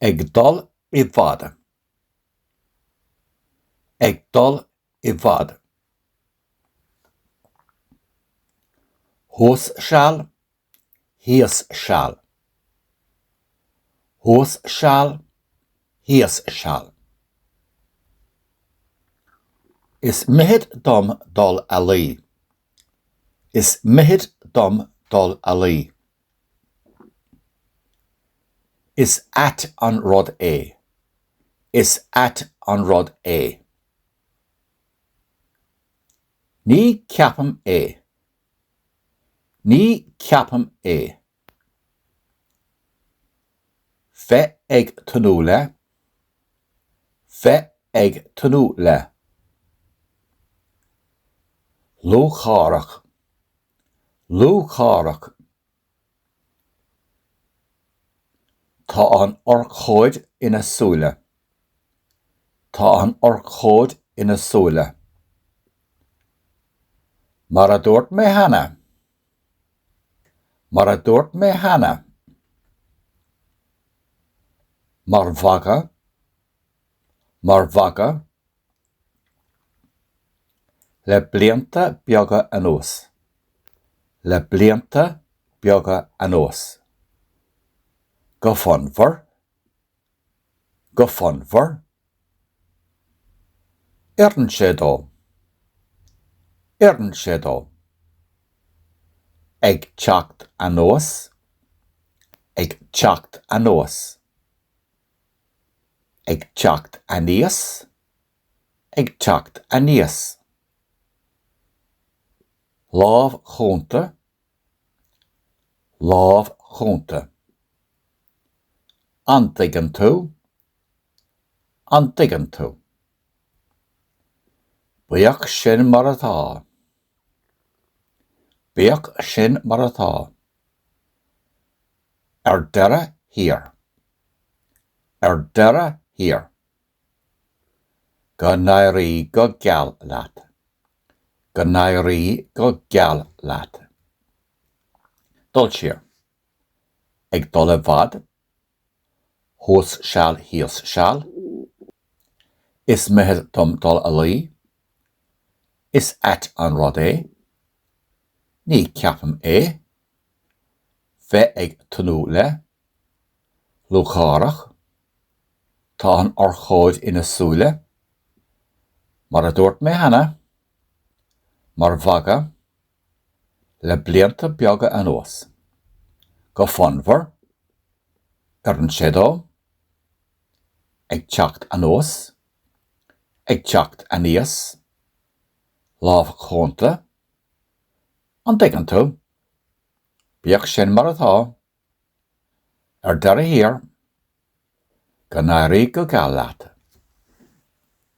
Ag dul i bhfad. Ag dul i bhfad. Thuas seal, thíos seal. Thuas seal, thíos seal. Is mithid dom dul a luí. Is mithid dom dul a luí. Is ait an rud é. Is ait an rud é. Ní ceapaim é. Ní ceapaim é. Bheith ag tnúth le, Bheith ag tnúth le. lúcháireach, lúcháireach. Tá an urchóid ina súile, Tá an urchóid ina súile. Mar a dúirt mé cheana, Mar a dúirt mé cheana, mar mhagadh, mar mhagadh, le blianta beaga anuas, le blianta beaga anuas, go fonnmhar, go fonnmhar. Oireann sé dó. Oireann sé dó. Ag teacht anuas. Ag teacht anuas. Ag teacht aníos. Ag teacht aníos. Lámh chúnta, Lámh chúnta. An dtuigeann tú? An dtuigeann tú? Bíodh sin mar atá. Bíodh sin mar atá. Ar deireadh thiar. Ar deireadh thiar. Go n-éirí go geal leat! Go n-éirí go geal leat! Dul siar. Ag dul i bhfad. Thuas seal thíos seal. Is mithid dom dul a luí. Is ait an rud é. Ní ceapaim é. Bheith ag tnúth le. Lúcháireach. Tá an urchóid ina súile. Mar a dúirt mé cheana, mar mhagadh, le blianta beaga anuas. Go fonnmhar, oireann sé dó. Ag teacht anuas. Ag teacht aníos. Lámh chúnta. An dtuigeann tú? Bíodh sin mar atá. Ar deireadh thiar, go n-éirí go geal leat.